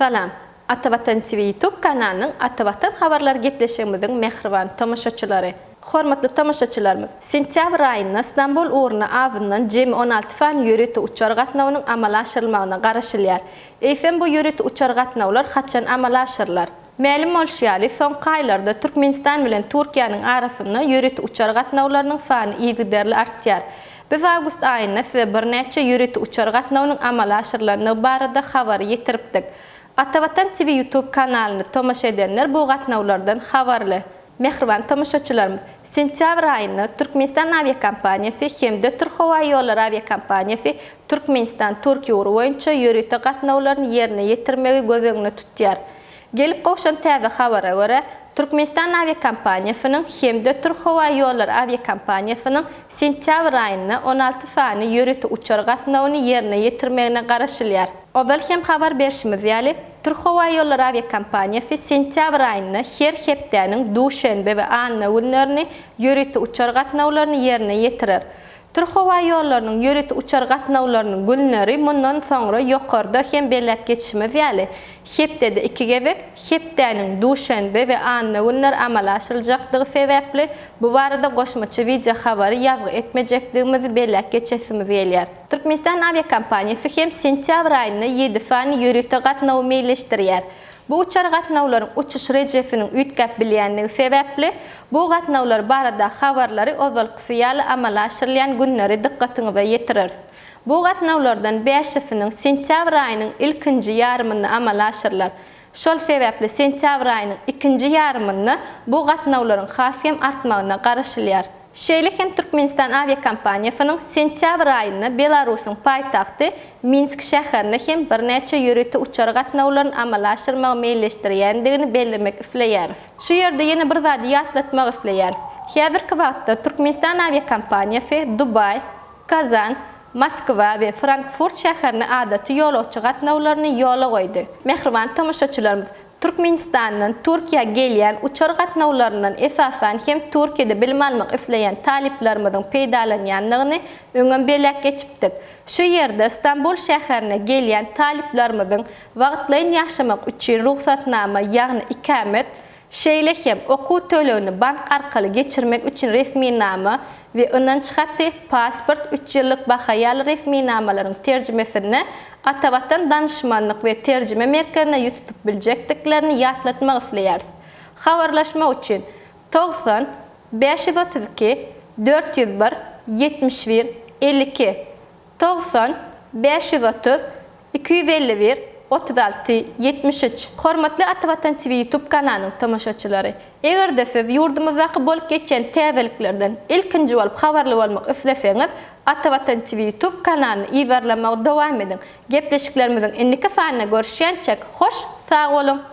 Salam! Atavatan TV YouTube kanalynyň Atavatan habarlary gepleşigimiziň mähriban tomaşaçylary! Hormatly tomaşaçylarymyz! Sentýabr aýynda Stambul ugruna azyndan jemi on alty sany ýörite uçar gatnawynyň amala aşyrylmagyna garaşylýar. Eýsem bu ýörite uçar gatnawlar haçan amala aşyrylar? Mälim bolşy ýaly, soňky aýlarda Türkmenistan bilen Türkiýäniň arasynda ýörite uçar gatnawlarynyň sany yzygiderli artýar. Biz awgust aýynda size birnäçe ýörite uçar gatnawynyň amala aşyrylandygy barada habary ýetiripdik. Atavatan TV ýutub kanalyny tomaşa edenler bu gatnawlardan habarly. Mähriban tomaşaçylarymyz, sentýabr aýynda Türkmenistan awiakompaniýasy hem-de Türk howa ýollary awiakompaniýasy Türkmenistan, Turkiýa ugry boýunça ýörite gatnawlaryny ýerine ýetirmegi göz öňünde tutýar. Gelip gowşan täze habara görä, Türkmenistan awiakompaniýasynyň hem-de Türk howa ýollary awiakompaniýasynyň sentýabr aýynda on alty sany ýörite uçar gatnawyny ýerine ýetirmegine garaşylýar. Ozal hem habar berşimiz ýaly, Türkhowaýollary awiakompaniýasy sentýabr aýynda her hepdäniň duşenbe we anna günlerini ýörite uçar gatnawlaryny ýerine ýetirer. Türkhowaýollarynyň ýörite uçar gatnawlarynyň günleri mundan soňra ýokarda hem belläp geçişimiz ýaly, hepdede iki gezek, hepdäniň duşenbe we anna günleri amala aşyryljakdygy sebäpli, bu barada goşmaça wideohabary ýazgy etmejekdigimizi belläp geçesimiz gelýär. Türkmenistan awiakompaniýasy hem sentýabr aýynda ýedi sany ýörite gatnawy meýilleşdirýär. Bu uçar gatnawlaryň uçuş rejesiniň üýtgäp bilýändigi sebäpli, bu gatnawlar baradaky habarlary ozalkysy ýaly amala aşyrylýan günleri dykgatyňyza ýetireris. Bu gatnawlardan bäşisiniň sentýabr aýynyň ilkinji ýarymynda amala aşyrylar. Şol sebäpli sentýabr aýynyň ikinji ýarymynda bu gatnawlaryň has hem artmagyna garaşylýar. Şeýle hem Türkmenistan awiakompaniýasynyň sentýabr aýynda Belarusyň paýtagty Minsk şäherine hem birnäçe ýörite uçar gatnawlaryny amala aşyrmagy meýilleşdirýändigini bellemek isleýäris. Şu ýerde ýene bir zady ýatlatmak isleýäris. Häzirki wagtda Türkmenistan awiakompaniýasy Dubaý, Kazan, Moskwa we Frankfurt şäherine adaty ýolagçy gatnawlaryny ýola goýdy. Mähriban tomaşaçylarymyz, Türkmenistandan Türkiýä gelýän uçar gatnawlaryndan esasan hem Türkiýede bilim almak isleýän talyplarymyzyň peýdalanýandygyny öňem belläp geçipdik. Şu ýerde Stambul şäherine gelýän talyplarymyzyň wagtlaýyn ýaşamak üçin rugsatnama, ýagny ikamet, Şeýle hem, okuw tölegini bank arkaly geçirmek üçin resminama we ynanç haty, pasport, üç ýyllyk baha ýaly resminamalaryň terjimesini Atavatan Danyşmanlyk we Terjime Merkezine ýüz tutup biljekdiklerini ýatlatmak isleýäris. Habarlaşmak üçin, togsan bäş ýüz otuz iki dört ýüz bir ýetmiş bir elli iki. Togsan, bäş ýüz otuz, iki ýüz elli bir, otuz alty, ýetmiş üç Hormatly Ata Watan TV YouTube kanalynyň tomaşaçylary! Eger-de siz ýurdumyzdaky bolup geçýän täzeliklerden ilkinji bolup habarly bolmak isleseňiz, Ata Watan TV YouTube kanalyny yzarlamagy dowam ediň! Gepleşiklerimiziň indiki sanynda görüşýänçäk, hoş, sag boluň!